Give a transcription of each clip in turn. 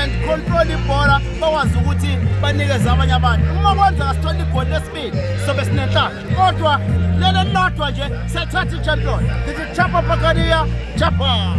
and control ibhola bakwazi ukuthi banikeze abanye abantu uma kwenzeka sithola igoli lesibili sobe sinenhlaka kodwa leli elilodwa nje siyathatha i-champion ngithi chapa pakaniya chapa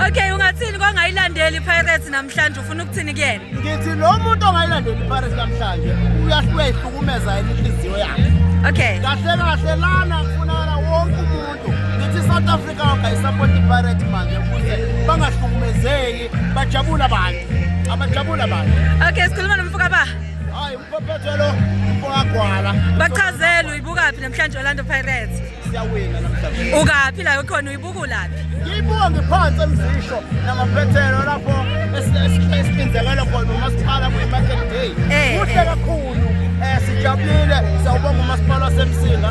okay ungathini kongayilandeli ipirates namhlanje ufuna ukuthini kuyena ngithi lo muntu ongayilandeli ipirates namhlanje uyahluka ihlukumeza yena inhliziyo yakhe okay kahle kahle lana kufunakala wonke umuntu ngithi south africa wagayisapota ipirate manje ukuze bangahlukumezeki bajabule abantu abajabule abantu okay sikhuluma nomfuka ba hayi umphophetho lo umfokagwala bachazelwe uyibukaphi namhlanje orlando pirates siyawina namhlanje ukaphi la ukhona uyibukulaphi ngiyibuka ngiphansi emzisho namaphethelo lapho esihlinzekele khona umasipala kwi-market day eh, kuhle eh. kakhulu um sijabulile sawubonga umasipala wasemsinga